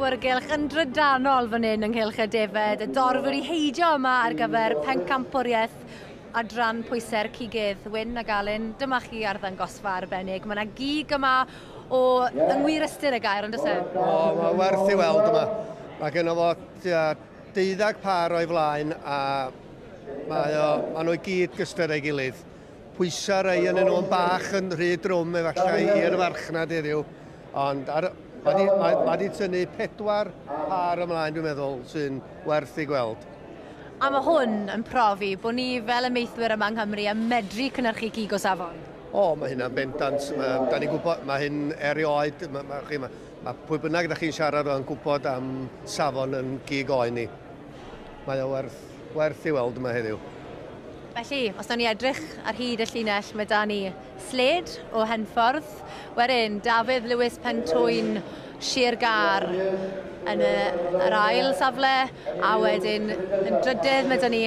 awyrgylch yn drydanol fan hyn ynghylch y defed, y dorf wedi heidio yma ar gyfer pencampwriaeth adran pwysau'r cigydd. Wyn a Galyn, dyma chi ar ddangosfa arbennig. Mae yna gig yma o yeah. yng ngwir ystyr y gair, ond oes e? O, mae werth i weld yma. Mae gen o fo deuddag par o'i flaen a mae o, maen nhw i gyd gyster ei gilydd. Pwysa rei yn nhw'n bach yn rhy drwm efallai i'r farchnad heddiw, ond ar, mae di, mae, mae di tynnu pedwar par ymlaen dwi'n meddwl sy'n werth ei gweld. A mae hwn yn profi bod ni fel ymieithwyr yma yng Nghymru yn medru cynnyrchu cig o safon. O, mae hynna'n bendant. Mae, da ni'n gwybod, mae hyn erioed, mae, mae, chi, mae, mae pwy bynnag ydych chi'n siarad o'n gwybod am safon yn gig oen ni. Mae o werth Werth ei weld yma heddiw. Felly, os nawn ni edrych ar hyd y llinell, mae da ni Sled o Henffordd, wedyn Dafydd Lewis Pen Tŵyn, Sir Gâr yn y, yr ail safle, a wedyn yn drydydd mae da ni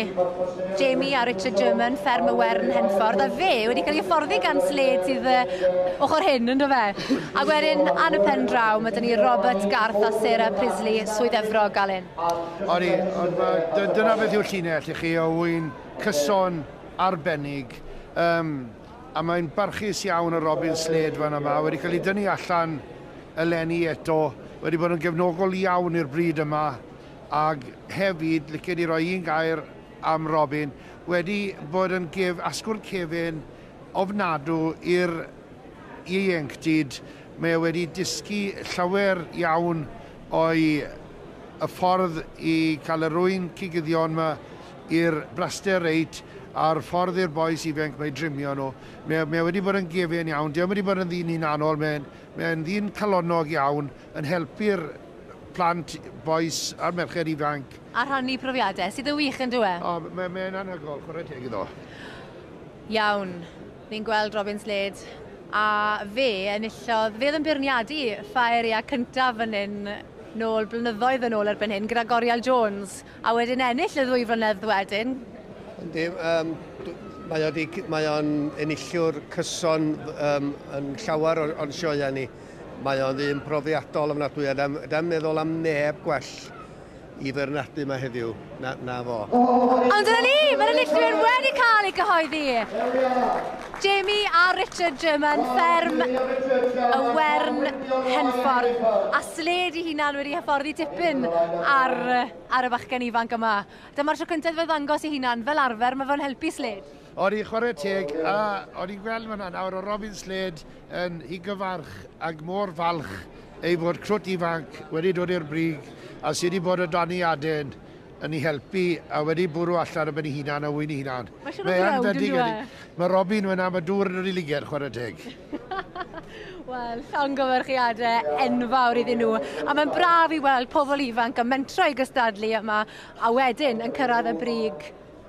Jamie a Richard German, Fferm y Wern Henffordd, a fe wedi cael ei hyfforddi gan Sled sydd uh, ochr hyn, ynddo fe? A wedyn, ar y pen draw, mae da ni Robert Garth a Sarah Prisley, Swydd Efrog, Alun. O'n i, ond ma, dy- dyna beth yw'r llinell i chi, o ŵyn cyson arbennig. Um, a mae'n barchus iawn o Robin Slade fan yma, wedi cael ei dynnu allan eleni eto, wedi bod yn gefnogol iawn i'r bryd yma, ac hefyd, licen i roi un gair am Robin, wedi bod yn gef, asgwrn cefn ofnadw i'r ieuenctid, mae e wedi dysgu llawer iawn O'i y ffordd i cael yr ŵyn cigyddion ma i'r braster reit a'r ffordd i'r bois ifenc ma i drimio nhw. Mae mae wedi bod yn gefin iawn. Dio'm wedi bod yn ddyn hunanol mae'n mae'n ddyn calonnog iawn yn helpu'r plant bois a'r merched ifanc. A rhannu profiade sydd yn wych yndyw e? O mae mae'n anhygol chwarae teg iddo. Iawn. Ni'n gweld Robin Slade a fe enillodd, fe oedd yn beirniadu Ffa Eiriac cyntaf fan hyn nôl blynyddoedd yn ôl erbyn hyn gyda Goriel Jones a wedyn ennill y ddwy flynedd wedyn. Yndi, um, mae o'n mae o enillwr cyson um, yn llawer o'n sioeau ni. Mae o'n ddyn profiadol ofnadwy a da ni'n meddwl am neb gwell i feirniadu yma heddiw, na, na fo. Ond dyna ni, mae'r enillwyr wedi cael ei gyhoeddi. Jamie a Richard German, fferm y Wern Henffordd, a sled i hunan wedi hyfforddi tipyn ar, ar y bachgen ifanc yma. Dyma'r tro cyntaf fe ddangos ei hunan, fel arfer, mae fo'n helpu sled. O'n i'n chwarae teg a o'n i'n gweld fan'na nawr o Robin Slade yn higyfarch ac mor falch ei fod crwt ifanc wedi dod i'r brig a sydd wedi bod o dan ei aden yn ei helpu a wedi bwrw allan o ben ei hunan a wyn ei hunan. Mae siwr o fod yn dweud. E? Mae Robin fyna, mae dŵr yn yr i liger, chwarae teg. Wel, llongyfarchiadau enfawr iddyn nhw. A mae'n braf i weld pobl ifanc yn mentro i gystadlu yma a wedyn yn cyrraedd y brig